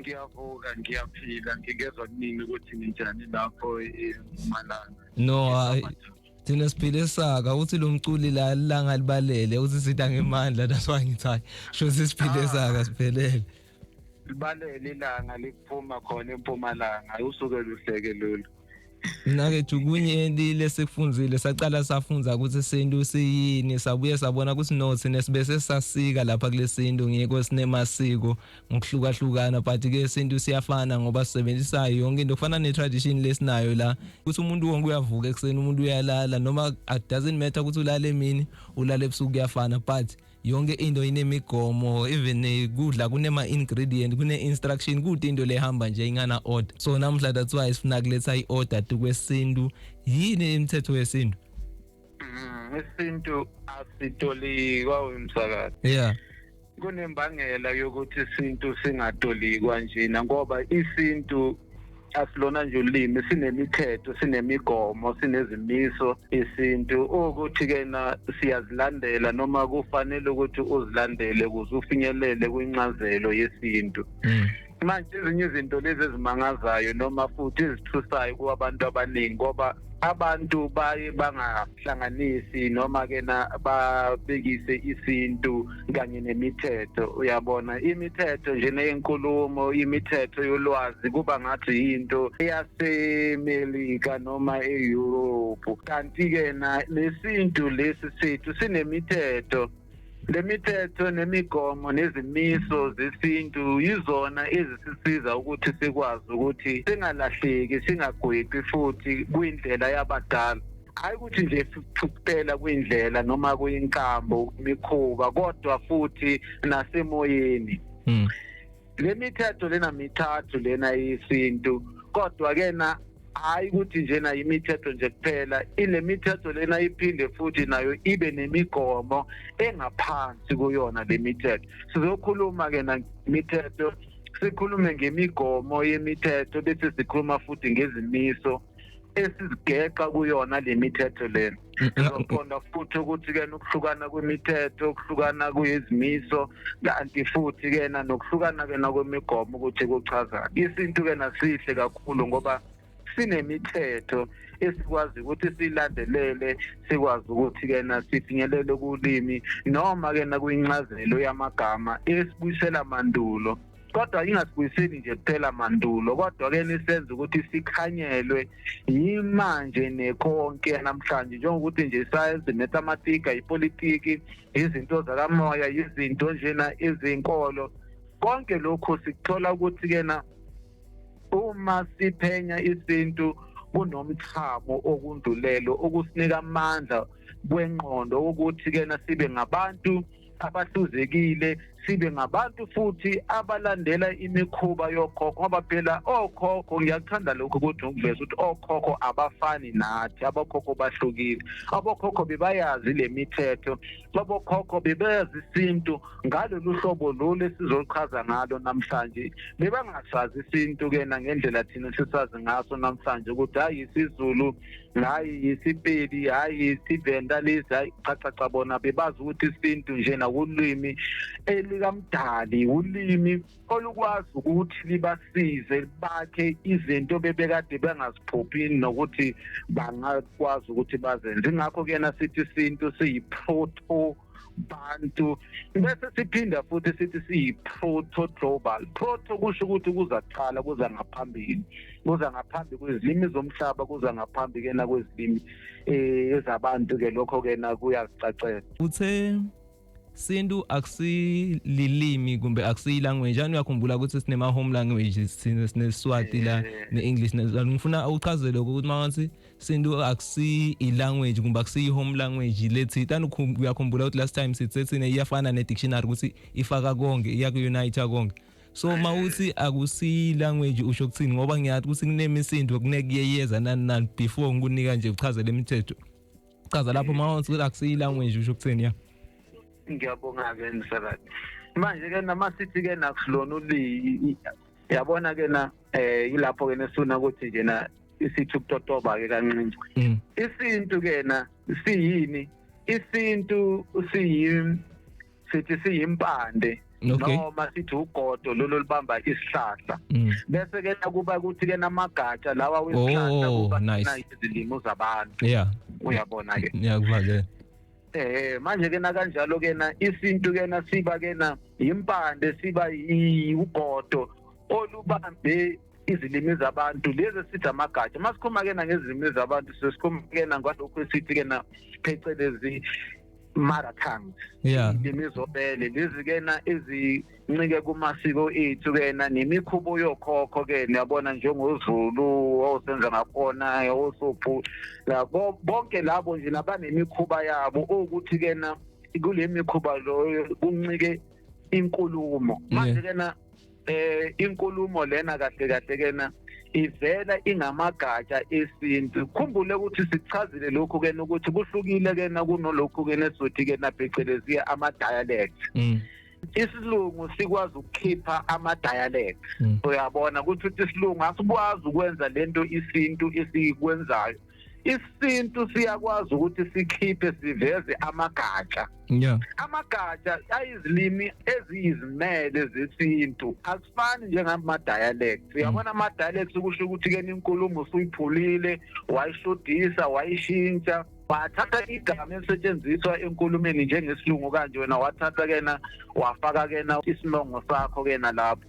ngiyavuka ngiyaphila ngingezwa kunini ukuthi ninjani lapho emalanga no hayi thina siphile esaka uthi lo mculi la langa libalele uthi sitha ngemandla that's why ngithi hayi sho sisiphile esaka siphelele libalele ilanga liphuma khona empumalanga usuke luhleke lolu nakethu kunye lile sekufunzile saqala safunza ukuthi sintu siyini sabuye sabona ukuthi no thina sibe sesasika lapha kule sintu ngiyekho sinemasiko ngokuhlukahlukana but ke sintu siyafana ngoba sisebenzisa yonke into kufana ne-tradition lesinayo la ukuthi umuntu wonke uyavuka ekuseni umuntu uyalala noma it doesn't matter ukuthi ulale emini ulale ebusuku kuyafana but yonke into inemigomo even eh, kudla kunema ingredient kune instruction kude into lehamba nje ingana order so namhla that's why sifuna kuletha i order tu kwesintu yini imithetho yesintu mm, isintu asitolikwa umsakazi yeah kunembangela yokuthi isintu singatolikwa njena ngoba isintu asilona nje ulimi sinemithetho sinemigomo sinezimiso isintu ukuthi kena siyazilandela noma kufanele ukuthi uzilandele ukuze ufinyelele kwincazelo yesintu mm. manje ezinye izinto lezi ezimangazayo noma futhi ezithusayo kwabantu abaningi ngoba abantu baye banga hlanganisi noma ke na babekise isintu kanye nemithetho uyabona imithetho nje neyinkulumo imithetho yolwazi kuba ngathi into eyaseMelika noma eEurope kanti ke na lesintu lesi sethu sinemithetho Le mithetho nemigomo nezimiso zesintu yizona ezisisiza ukuthi sikwazi ukuthi singalahleki singagwebi futhi kwindlela yabadala hayi ukuthi nje kuphela kwindlela noma kuyinkambo imikhuba kodwa futhi nasemoyeni mm. le mithetho lena mithathu lena yesintu kodwa ke na hayi ukuthi njena yimithetho nje kuphela ile mithetho lena iphinde futhi nayo ibe nemigomo engaphansi kuyona le mithetho sizokhuluma ke namithetho sikhulume ngemigomo yemithetho bese sikhuluma futhi ngezimiso esizigeqa kuyona le mithetho lena sizoqonda futhi ukuthi-ke nokuhlukana kwemithetho ukuhlukana kuyizimiso kanti futhi-ke na nokuhlukana-ke nakwemigomo ukuthi kuchazani isintu-ke nasihle kakhulu ngoba sinemithetho esikwazi ukuthi silandelele sikwazi ukuthi-ke na sifinyelele kulimi noma-ke nakwincazelo yamagama esibuyisela mandulo kodwa ingasibuyiseli nje kuphela mandulo kodwa ke nisenza ukuthi sikhanyelwe yimanje nekonke namhlanje njengokuthi nje isayensi mathematika ipolitiki izinto zakamoya izinto njena izinkolo konke lokhu sikuthola ukuthi kena uma siphenya isintu kunomthamo okundulelo okusinika amandla kwenqondo ukuthi kena sibe ngabantu abahluzekile sibe ngabantu futhi abalandela imikhuba yokhokho ngoba phela okhokho ngiyakuthanda lokhu ukuthi ngiveza ukuthi okhokho abafani nathi abokhokho bahlukile abokhokho bebayazi le mithetho abokhokho bebayazi isintu ngalolu hlobo lolu esizoluchaza ngalo namhlanje bebangasazi isintu-ke nangendlela thina sisazi ngaso namhlanje ukuthi hhayi isizulu hayi isipedi hayi isivenda lesi hayi cha cha cha bona bebazi ukuthi isintu nje nakulwimi elikamdali ulimi olukwazi ukuthi libasize bakhe izinto bebekade bengaziphuphi nokuthi bangakwazi ukuthi bazenze ingakho kuyena sithi isintu siyi-proto bantu bese siphinda futhi sithi siyi-proto global proto kusho ukuthi kuza kuqala kuza ngaphambili kuza ngaphambi kwezilimi zomhlaba kuza ngaphambi ke nakwezilimi eh, ezabantu ke lokho ke nakuyacacela uthe sintu akusililimi kumbe akusiyilanguage ani uyakhumbula ukuthi sinema-home languages sinesiswati la ne-english ngifuna uchazelwe ukuthi uma ngathi sintu akusi i-language kumbe akusiyi-home language lethi tani uyakhumbula ukuthi last time sithi sethina iyafana ne-dictionary ukuthi ifaka konke iyaku-unite konke so uma uthi akusiyi-language usho kuthini ngoba ngiyathi ukuthi kunemisindo kunekuyeyeza nani nani before ngikunika nje uchazela imithetho chaza lapho uma uthi akusiyi-language usho kuthini ya ngiyabonga-ke msakazi manje-ke namasithi-ke nakusilona uliyi yabona-ke na um eh, yilapho-ke nesifuna ukuthi nje na isithi ukutotoba ke kancinci mm. isintu kena siyini isintu siyi sithi siyimpande okay. noma sithi ugodo lolu libamba isihlahla mm. bese ke nakuba ukuthi ke namagatsha lawa wesihlahla oh, kuba nice. izilimo zabantu yeah. uyabona ke ngiyakuva ke eh manje ke nakanjalo ke na isintu ke na siba ke na impande siba ugodo olubambe izilimi zabantu lezi esithi amagatsha uma sikhuluma kena ngezilimi zabantu sesikhuluma kena ngalokhu esithi kena phecelezi mother tongues yeah imizobele lezi kena ezincike kumasiko ethu kena nemikhubo yokhokho ke niyabona njengozulu osenza ngakhona osophu labo bonke labo nje labanemikhuba yabo ukuthi kena kule mikhuba loyo kuncike inkulumo manje kena eh inkulumo lena kahle kahle kena ivela ingamagatsha esintu khumbule ukuthi sichazile lokhu kena ukuthi kuhlukile kena kunolokhu kena esizothi kena phecelezi ama dialect mm. isilungu sikwazi ukukhipha ama dialect mm. uyabona ukuthi isilungu asikwazi ukwenza lento isintu esikwenzayo isintu siyakwazi ukuthi sikhiphe siveze amagatsha yeah amagatsha ayizilimi eziyizimele zesintu asifani njengama dialects uyabona ama dialects ukusho ukuthi ke inkulumo usuyiphulile wayishodisa wayishintsha wathatha igama elisetshenziswa enkulumeni njengesilungu kanje wena wathatha kena wafaka kena isinongo sakho kena lapho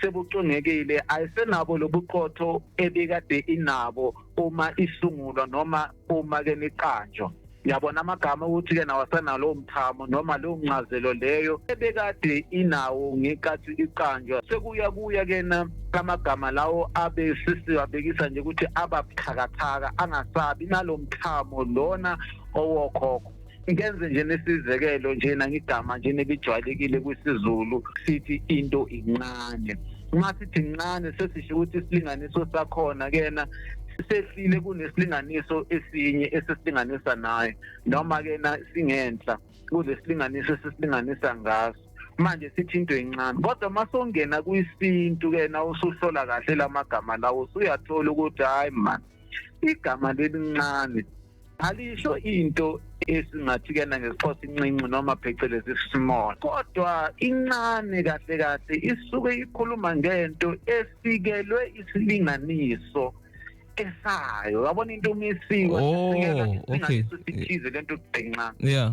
sebucungekile ayisenabo lobuqotho ebikade inabo uma isungulwa noma uma ke niqanjwa yabona amagama ukuthi ke nawasana lowo mthamo noma leyo ncazelo leyo ebekade inawo ngeqathi iqanjwa sekuya kuya kena amagama lawo abe sisiwabekisa nje ukuthi ababuthakathaka angasabi nalo mthamo lona owokhokho ngenze nje nesizekelo nje nangigama nje nebijwayelekile kwisizulu sithi into incane uma sithi incane sesisho ukuthi isilinganiso sakhona kena sehlile kunesilinganiso esinye esisilinganisa naye noma ke na singenhla kulesilinganiso esisilinganisa ngaso manje sithi into encane kodwa masongena kwisintu ke na usuhlola kahle lamagama lawo usuyathola ukuthi hayi man igama lelincane alisho into esingathi kena ngesixhosa incinci noma phecelezi small kodwa incane kahle kahle isuke ikhuluma ngento efikelwe isilinganiso esayo yabona into umisiwe oh, okay. sithize lento kugcinxa yeah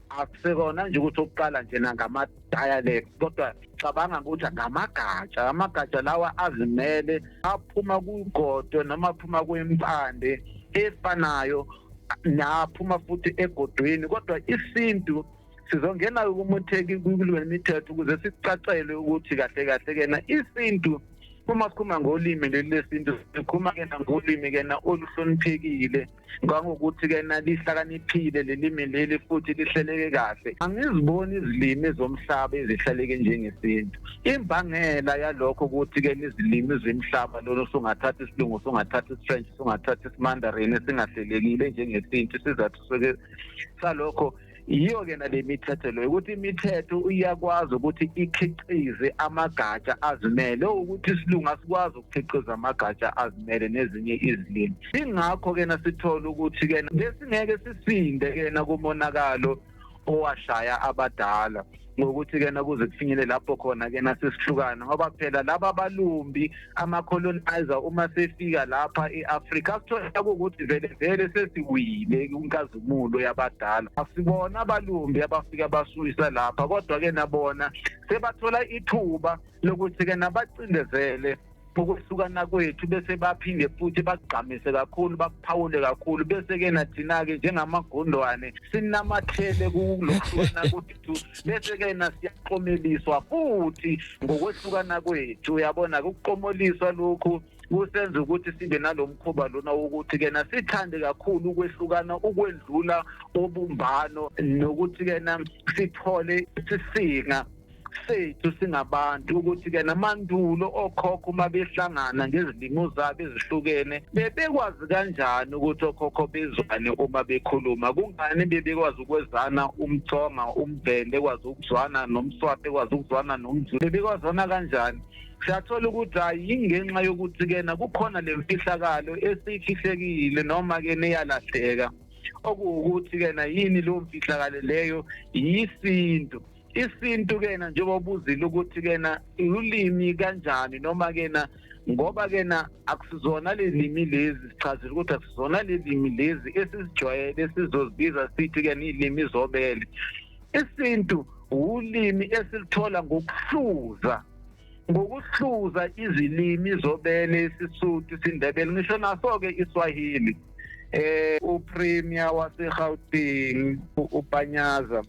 akusekona nje ukuthi ukuqala nje nangama-dialect kodwa cabanga ukuthi ngamagatsha amagatsha lawa azimele aphuma kugodo noma aphuma kwempande efanayo naphuma futhi egodweni kodwa isintu sizongena ukumutheki kule mithetho ukuze sicacelwe ukuthi kahle kahle kena isintu uma sikhuluma ngolimi leli lesintu sikhuluma kena ngolimi kena oluhloniphekile ngangokuthi ke nalihlakaniphile lelimi leli futhi lihleleke kahle angiziboni izilimi zomhlaba ezihleleke njengesintu imbangela yalokho ukuthi ke izilimi zomhlaba lolo sungathatha isilungu sungathatha isifrench sungathatha isimandarin esingahlelekile njengesintu isizathu salokho yiyo-ke nale mithetho leyo ukuthi imithetho iyakwazi ukuthi ikhiqize amagatsha azimele ukuthi isilungu asikwazi ukukhiqiza amagatsha azimele nezinye izilimi ingakho-ke nasithola ukuthi-ke besingeke sisinde-ke nakumonakalo owashaya abadala ngokuthi kena kuze kufinyele lapho khona kena sesihlukana ngoba phela laba balumbi ama colonizer uma sefika lapha eAfrika sithola ukuthi vele vele sesiwile kunkazimulo yabadala asibona abalumbi abafika basuyisa lapha kodwa ke nabona sebathola ithuba lokuthi ke nabacindezele ukwehlukana kwethu bese baphinde futhi bakugqamise kakhulu bakuphawule kakhulu bese ke nathina-ke njengamagundwane sinamathele kulohlukana kwethu bese ke nasiyaqomeliswa futhi ngokwehlukana kwethu uyabona kuqomoliswa lokhu kusenza ukuthi sibe nalomkhuba lona ukuthi kena sithande kakhulu ukwehlukana ukwendlula obumbano nokuthi kena sithole sisinga sethu singabantu ukuthi ke namandulo okhokho uma behlangana ngezilimo zabo ezihlukene bebekwazi kanjani ukuthi okhokho bezwane uma bekhuluma kungani bebekwazi ukwezana umthonga umbhende kwazi ukuzwana nomswape kwazi ukuzwana nomzulu bebekwazana kanjani siyathola ukuthi hayi yingenxa yokuthi kena kukhona le mfihlakalo esiyifihlekile noma-ke neyalahleka okuwukuthi kena yini leyo mfihlakalo leyo yisintu isintu kena njengoba ubuzile ukuthi kena ulimi kanjani noma kena ngoba kena akusizona lelimi lezi sichazile ukuthi akusizona lelimi lezi esizijwayele sizozibiza sithi kena ilimi izobele isintu ulimi esilithola ngokuhluza ngokuhluza izilimi zobele isisuthu isindebele ngisho naso-ke iswahili eh upremier wasegauteng upanyaza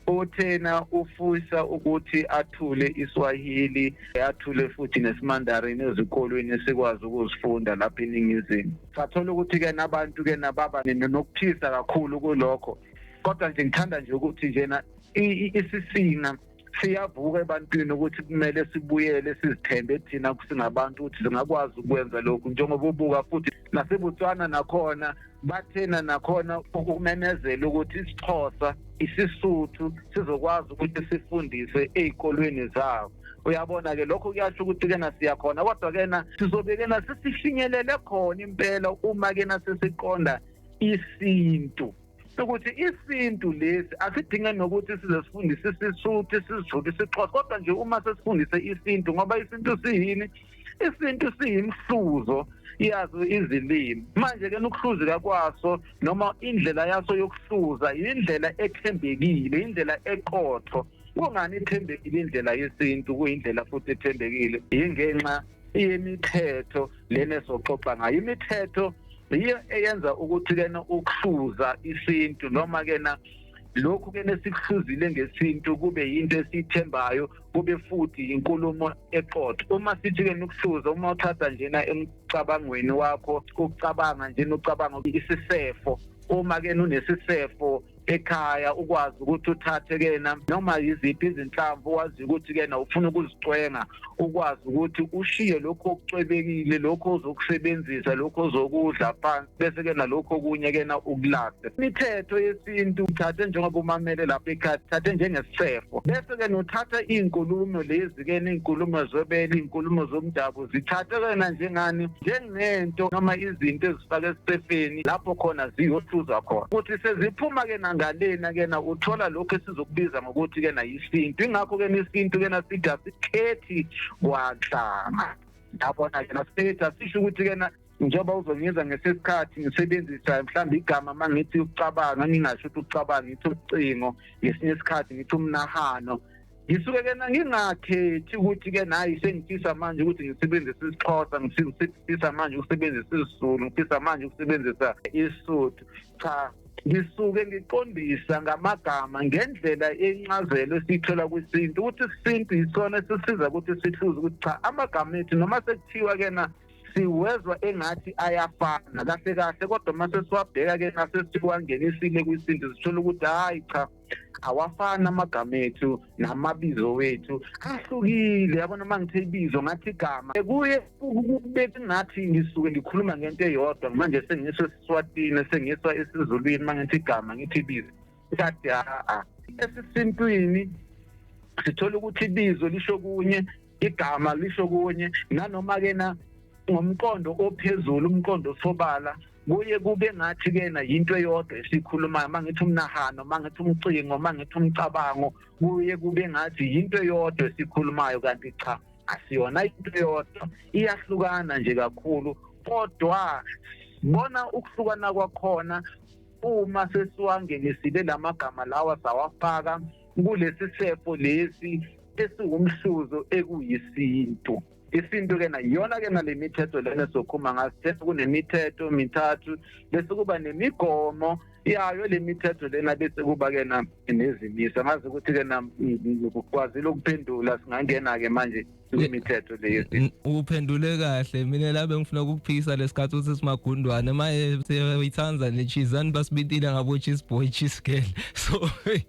uthena ufisa ukuthi athule iswahili athule futhi nesimandarin ezikolweni sikwazi ukuzifunda lapha eningizimu sathola ukuthi-ke nabantu-ke nababa nokuthisa kakhulu kulokho kodwa nje ngithanda nje ukuthi njena isisina siyavuka ebantwini ukuthi kumele sibuyele sizithembe thina singabantu ukuthi singakwazi ukwenza lokhu njengoba ubuka futhi naseBotswana nakhona bathena nakhona ukumemezela ukuthi isixhosa isisuthu sizokwazi ukuthi sifundise ezikolweni zabo uyabona ke lokho kuyasho ukuthi kena siyakhona kodwa kena sizobekena sisifinyelele khona impela uma kena sesiqonda isintu sokuthi isintu lesi asidinge nokuthi size sifundise isisuthi sizulu isixhosa kodwa nje uma sesifundise isintu ngoba isintu siyini isintu siyimhluzo yazo izilimi manje-ke nokuhluzeka kwaso noma indlela yaso yokuhluza yindlela ethembekile indlela eqotho kungani ithembekile indlela yesintu kuyindlela futhi ethembekile yingenxa imithetho lena esoxoxa ngayo imithetho yiyo eyenza ukuthi kena ukuhluza isintu noma kena lokhu ke nesikuhluzile ngesintu kube yinto esithembayo kube futhi inkulumo eqotho uma sithi ke nokuhluza uma uthatha njena emcabangweni wakho ukucabanga njena ucabanga isisefo uma ke unesisefo ekhaya ukwazi ukuthi uthathe kena noma yiziphi izinhlamvu wazi ukuthi kena ufuna ukuzicwenga ukwazi ukuthi ushiye lokho okucwebekile lokho ozokusebenzisa lokho ozokudla phansi bese kena lokho okunye kena ukulahle imithetho yesintu uthathe njengoba umamele lapha ekhaya thathe njengesifo bese kena uthatha iy'nkulumo lezi kena iy'nkulumo zobele iy'nkulumo zomdabu zithathe kena njengani njengento noma izinto ezifaka esisefeni lapho khona ziyohluzwa khona ukuthi seziphuma ke nangalena kena uthola lokho esizokubiza ngokuthi kena yisintu ingakho kena isintu kena sithi asikhethi kwanhlanga yabona kena sithi asisho ukuthi kena njengoba uzongiza ngesikhathi ngisebenzisa mhlawumbe igama uma ngithi ukucabanga ngingasho ukuthi ukucabanga ngithi ucingo ngesinye isikhathi ngithi umnahano ngisuke ke ngingakhethi ukuthi ke nayi sengifisa manje ukuthi ngisebenzise isixhosa ngisifisa manje ukusebenzisa isizulu ngifisa manje ukusebenzisa isuthu cha ngisuke ngiqondisa ngamagama ngendlela encazelo esiyithola kwisintu ukuthi isintu yisona esisiza ukuthi sihluze ukuthi cha amagama ethu noma sekuthiwa kena siwezwa engathi ayafana kahle kahle kodwa uma sesiwabheka ke nasesiwangenisile kwisintu sithola ukuthi hhayi cha awafani amagama ethu namabizo wethu ahlukile yabona uma ngithe ibizo ngathi igama kuye kubeka ngathi ngisuke ngikhuluma ngento eyodwa manje sengisho esiswatini sengiswa esizulwini uma ngithi igama ngithi ibizo kade haa esisintwini sithola ukuthi ibizo lisho kunye igama lisho kunye nanoma-ke na ngomqondo ophezulu umqondo osobala kuye kube ngathi kena yinto eyodwa esikhulumayo mangithi umnahano mangithi umcingo mangithi umcabango kuye kube ngathi yinto eyodwa esikhulumayo kanti cha asiyona into eyodwa iyahlukana nje kakhulu kodwa bona ukuhlukana kwakhona uma sesiwangenisile lamagama lawa sawafaka kulesi sefo lesi esiwumhluzo ekuyisintu isintu ke na iyona ke nale mithetho lena sokhuma ngasithetha kunemithetho mithathu bese kuba nemigomo yayo le mithetho lena bese kuba ke na nezimiso ngazi ukuthi ke na ukwazile ukuphendula singangena ke manje imithetho leyo uphendule kahle mina la bengifuna ukukuphikisa lesikhathi uthi simagundwane maye siyayithanda le cheese and basibitile ngabo cheese boy cheese girl so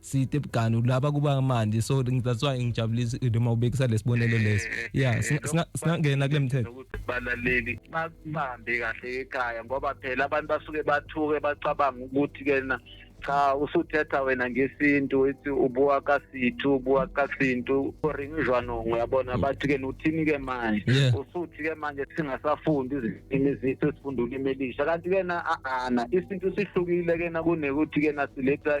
side bugani ulaba kuba manje so that's why ngijabulisa noma ubekisa lesibonelo leso eh, yeah eh, singangena kule mthetho balaleli bahambe kahle ekhaya ngoba phela abantu basuke bathuke bacabanga ukuthi kena cha usuthetha wena ngesintu ithi ubuwa kasithu ubuwa kasintu oringizwanongo uyabona mm. bathi ke uthini ke manje usuthi ke manje singasafundi izilimi zethu sifunda ulimi elisha kanti ke na ana isintu sihlukile ke na kunekuthi ke na siletha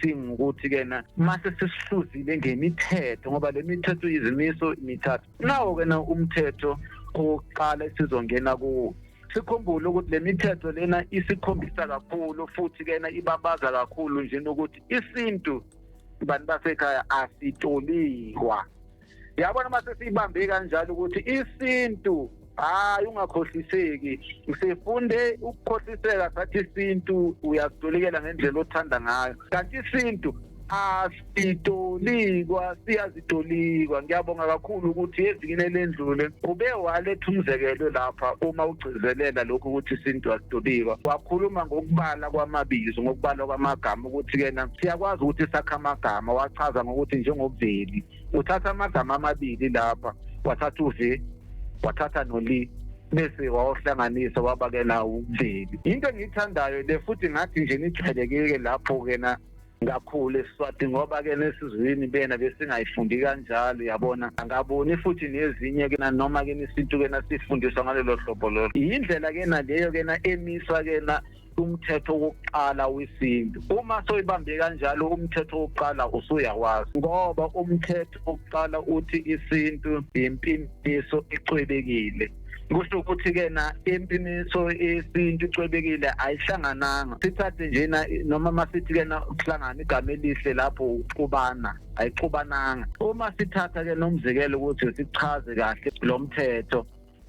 singukuthi kena mase sisihluzile ngemithetho ngoba le mithetho izimiso imithathu nawo kena umthetho owokuqala esizongena kuwo sikhumbule ukuthi le mithetho lena isikhombisa kakhulu futhi kena ibabaza kakhulu nje nokuthi isintu bantu basekhaya asitolikwa yabona uma sesiyibambe kanjalo ukuthi isintu hayi ungakhohliseki sifunde ukukhohliseka sathi isintu uyasitolikela ngendlela othanda ngayo kanti isintu asitolikwa siyazitolikwa ngiyabonga kakhulu ukuthi evikini elendlule ube waletha umzekelo lapha uma ugcizelela lokhu ukuthi isintu asitolikwa wakhuluma ngokubala kwamabizo ngokubala kwamagama ukuthi kena siyakwazi ukuthi sakha amagama wachaza ngokuthi njengobuveli uthatha amagama amabili lapha wathatha uve wathatha noli bese wawuhlanganisa wabakela umveli into engiyithandayo le futhi ngathi nje nijwayelekeke lapho kena kakhulu esiswati ngoba ke nesizwini bena besingayifundi kanjalo yabona angaboni futhi nezinye kena noma ke nesintu kena sifundiswa ngalelo hlobo lolo yindlela kena leyo kena emiswa kena umthetho wokuqala wesintu uma soyibambe kanjalo umthetho wokuqala usuyawazi ngoba umthetho wokuqala uthi isintu impimpiso icwebekile kusho ukuthi ke na impiniso esintu icwebekile ayihlangananga sithathe nje na noma masithi ke na ukuhlangana igama elihle lapho uxubana ayixubananga uma sithatha ke nomzekelo ukuthi sichaze kahle lo mthetho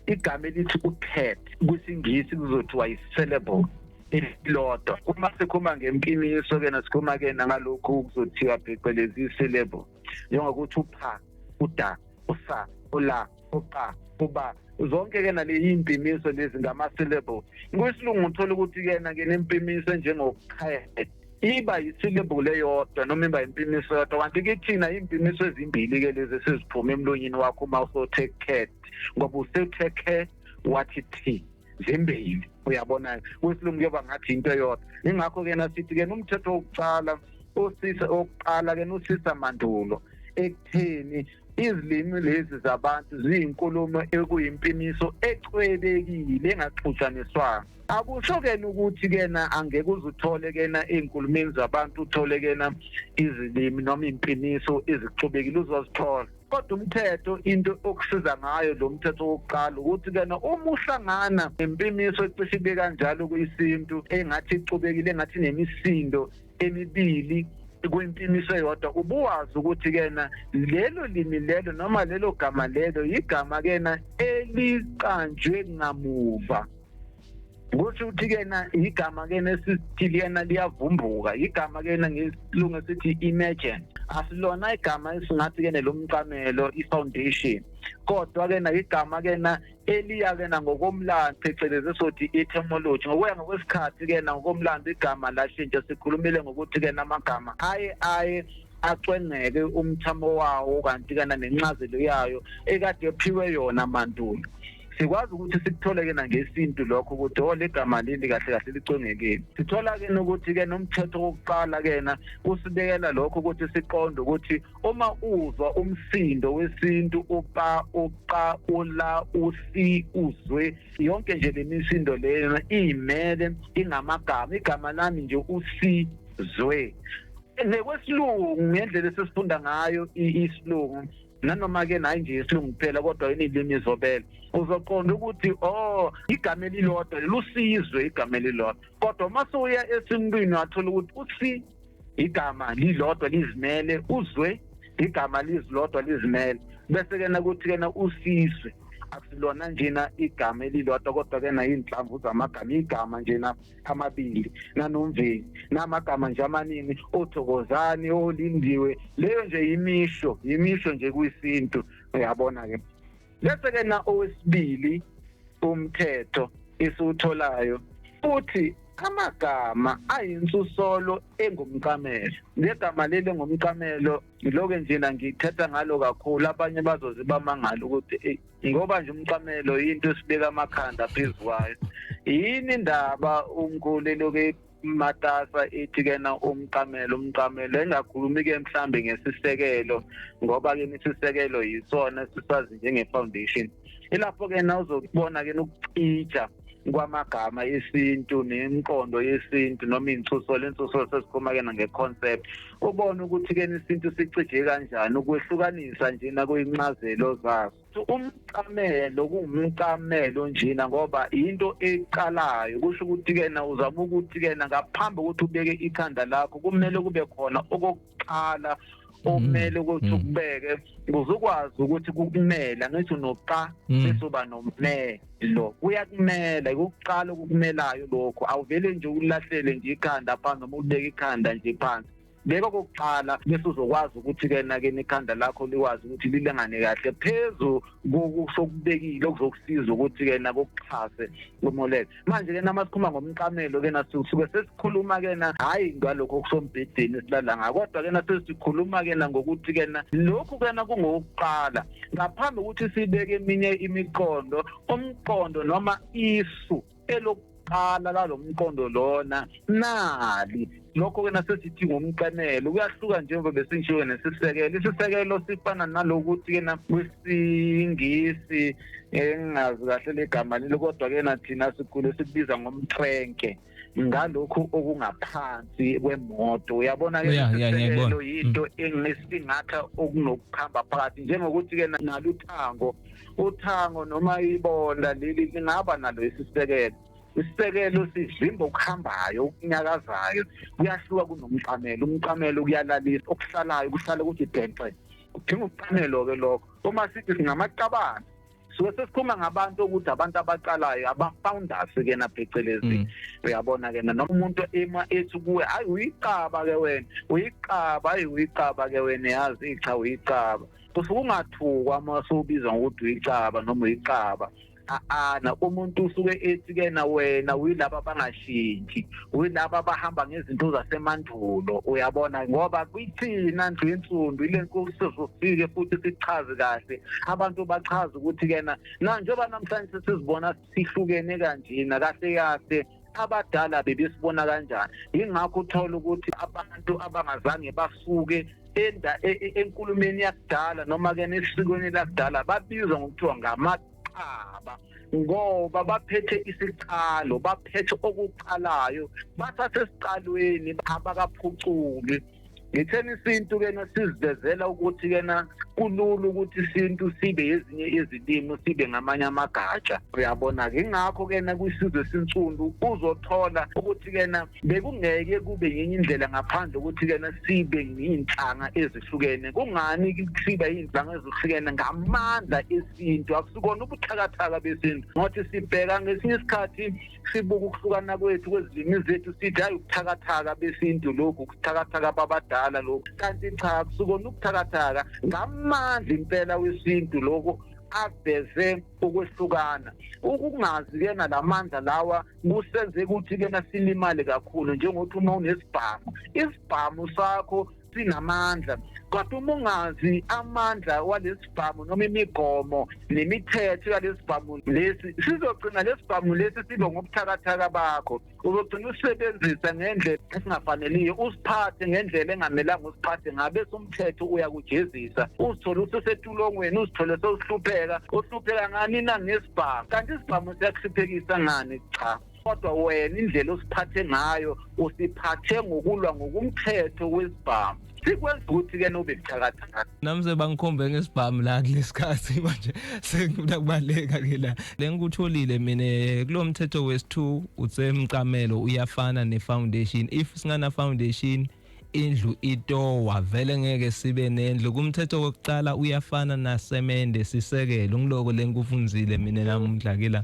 igama elithi upet kwisingisi kuzothiwa yi-syllable elilodwa uma sikhuluma ngempimiso ke nasikhuluma ke nangalokhu kuzothiwa phecelezi i-syllable njengokuthi upha uda usa ula uqa uba zonke ke naleyi impimiso lezi ngama-syllable kwisilungu uthola ukuthi kena ke nempimiso enjengokuqhele iba yisilebhule yodwa noma iba impimiso yodwa kanti kithina impimiso ezimbili-ke lezi esiziphume emlonyeni wakho uma usothe kukhetha ngoba usethe khe wathi thi zimbili uyabona kwesilungu kuyoba ngathi into eyodwa ingakho ke nasithi ke umthetho wokuqala usisa oqala ke usisa mandulo ekutheni izilimi lezi zabantu ziyinkulumo ekuyimpiniso ecwebekile engaxhutshaniswanga akusho kena ukuthi kena angeke uzuthole kena ezinkulumeni zabantu uthole kena izilimi noma impiniso ezixubekile uzozithola kodwa umthetho into okusiza ngayo lo mthetho wokuqala ukuthi kena uma uhlangana nempimiso ecishe ibe kanjalo kuyisintu engathi ixubekile engathi nemisindo emibili kwempimiso eyodwa ubuwazi ukuthi kena lelo limi lelo noma lelo gama lelo yigama kena eliqanjwe ngamuva kusho ukuthi kena igama kena esithi liyena liyavumbuka igama kena ngesilungu esithi imagine asilona igama esingathi kena lomqamelo ifoundation kodwa kena igama kena eliya kena ngokomlando phecelezi sothi etymology ngokuya ngokwesikhathi kena ngokomlando igama lashintsha sikhulumile ngokuthi kena amagama aye aye acwengeke umthamo wawo kanti kana nencazelo yayo ekade ephiwe yona mandulo sikwazi ukuthi sikuthole-ke nangesintu lokho ukuthi o legama leli kahle kahle licongekile sithola-ke nokuthi-ke nomthetho wokuqala-kena usibekela lokho ukuthi siqonde ukuthi uma uzwa umsindo wesintu upa uqa ula usi uzwe yonke nje le misindo leyo iyimele ingamagama igama lami nje usizwe nekwesilungu ngendlela esesifunda ngayo isilungu nanoma-ke nayi nje isilungu kuphela kodwa inilimi izobele uzoqonda ukuthi o oh, igama elilodwa lelusizwe igama elilodwa kodwa uma sewuya esimntwini wathola ukuthi usi igama lilodwa lizimele uzwe igama lizilodwa lizimele bese kena kuthi kena usizwe asilona njena igama elilodwa kodwa kena iy'nhlamvu zamagama igama njena amabili nanomveli namagama nje amaningi othokozani olindiwe leyo nje yimisho yimisho nje kuyisintu uyabona ke bese ke na owesibili umthetho esiwutholayo futhi amagama ayinsusolo engumqamelo ngegama leli engumqamelo ngiloke njena ngithetha ngalo kakhulu abanye bazoze bamangala ukuthi eyi ngoba nje umcamelo yinto esibeka amakhanda phezu kwayo yini indaba umkhulu eloke matasa ithi kena umqamelo umqamelo engakhulumi ke mhlambe ngesisekelo ngoba ke isisekelo yisona sisazi njenge foundation ilapho ke na uzokubona ke nokucija kwamagama esintu nemqondo yesintu noma insuso lensuso sesikhuluma kena ngeconcept ubone ukuthi ke isintu sicije kanjani ukwehlukanisa nje nakuyincazelo zaso umcamelo kungumcamelo njena ngoba into eqalayo kusho ukuthi kena uzama ukuthi kena ngaphambi ukuthi ubeke ikhanda lakho kumele kube khona nokuqala omele ukuthi Mm. ukubeke ukuze ukwazi ukuthi kukumele angithi unoqa Mm. bese uba nomelo kuyakumela ukuqala okukumelayo lokho awuvele nje ulahlele nje ikhanda phansi noma ulibeke ikhanda nje phansi beka okokuqala bese uzokwazi ukuthi-ke nakeni ikhanda lakho likwazi ukuthi lilengane kahle phezu kokusokubekile okuzokusiza ukuthi-ke nakokuxhase umolele manje ke nama sikhuluma ngomqamelo ke nasuke sesikhuluma ke na hayi ngalokho kusombhedeni esilala ngakho kodwa ke nasesikhuluma ke na ngokuthi ke na lokhu ke na kungokuqala ngaphambi ukuthi sibeke eminye imiqondo umqondo noma isu elokuqala lalomqondo lona nali lokho-ke nasesithi ngumqemelo kuyahluka njengoba besinjike nesisekelo isisekelo sifana nalokuthi-ke na kwisingisi engingazi kahle legama lelo kodwa-ke na thina sikhulu esikubiza ngomtrenke ngalokhu okungaphansi kwemoto uyabona ke Yeah, yeah, ngiyakubona. isiselo yinto enginesingatha okunokuhamba phakathi njengokuthi ke naluthango uthango noma ibonda leli lingaba nalo isisekelo isisekelo sivimba okuhambayo okunyakazayo kuyahluka kunomqamelo umqamelo kuyalalisa okuhlalayo kuhlale kuthi denxe kudinga ukuqamelo-ke lokho uma sithi singamaqabana suke sesikhuluma ngabantu ukuthi abantu abaqalayo aba-founders kena phecelezi mm. uyabona kena noma umuntu ema ethi kuwe hayi uyiqaba ke wena uyiqaba hayi uyiqaba ke wena yazi icha uyiqaba kusuke ungathukwa uma sowubizwa ngokuthi uyicaba noma uyicaba aana umuntu usuke ethi kena wena uyilaba bangashintshi uyilaba bahamba ngezinto zasemandulo uyabona ngoba kwithina ndlu yensundu ile nkulu sizofike futhi sichaze kahle abantu bachaza ukuthi kena na njengoba namhlanje sesizibona sihlukene kanjena kahle kahle abadala bebesibona kanjani yingakho uthola ukuthi abantu abangazange basuke enda e, e, enkulumeni yakudala noma ke nesikweni lakudala babizwa ngokuthiwa ngamaqaba ngoba baphethe isiqalo baphethe okuqalayo basasesiqalweni abakaphuculi ngitheni isintu kena sizivezela ukuthi kena kulula ukuthi isintu sibe ezinye izilimi sibe ngamanye amagatsha uyabona-ke ingakho kena kwisizwe sinsundu uzothola ukuthi kena bekungeke kube yenye indlela ngaphandle ukuthi kena sibe ngiyinhlanga ezihlukene kungani siba iy'nhlanga ezihlukene ngamandla esintu akusikona ubuthakathaka besintu ngothi sibheka ngesinye isikhathi sibuka ukuhlukana kwethu kwezilimi zethu sithi hayi ukuthakathaka besintu lokhu ukuthakathaka babadala lokhu kanti cha kusukona ukuthakathaka ngamandla impela wesintu lokho aveze ukwehlukana ukungazi ke nalamandla lawa kusenze ukuthi kena silimale kakhulu njengokuthi uma unesibhamu isibhamu sakho sinamandla kodwa uma ungazi amandla walesibhamu noma imigomo nemithetho yalesibhamu lesi sizogcina lesibhamu lesi sibe ngobuthakathaka bakho uzogcina usebenzisa ngendlela esingafaneliyo usiphathe ngendlela engamelanga usiphathe ngabe somthetho uyakujezisa uzithole ususetulongweni uzithole sewuhlupheka uhlupheka ngani na ngesibhamu kanti isibhamu siyakuhluphekisa ngani cha kodwa wena indlela osiphathe ngayo usiphathe ngokulwa ngokumthetho wesibhamu sikwenza ukuthi ke nobe buthakathaka nami sebangikhombe ngesibhamu la kulesikhathi manje sengifuna kubaleka ke la lengikutholile mina eh, kulo mthetho wesi2 utsemcamelo uyafana nefoundation if singana foundation indlu itowa vele ngeke sibe nendlu kumthetho wokuqala uyafana nasemende sisekelo ngiloko lengikufunzile mina namuhla ke la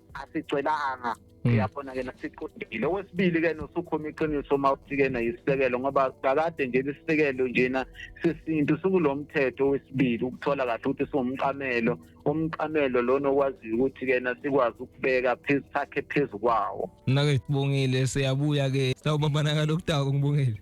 asigcelanga Mm. uyabona ke nasiqondile okwesibili ke nosukhoma iqiniso uma uthi ke nayisisekelo ngoba kakade nje lisisekelo njena sesintu sikulo mthetho wesibili ukuthola kahle ukuthi siwumqamelo umqamelo lona okwaziyo ukuthi ke nasikwazi ukubeka phezu sakhe phezu kwawo nake sibongile siyabuya ke sawubambana ngalokudako ngibongile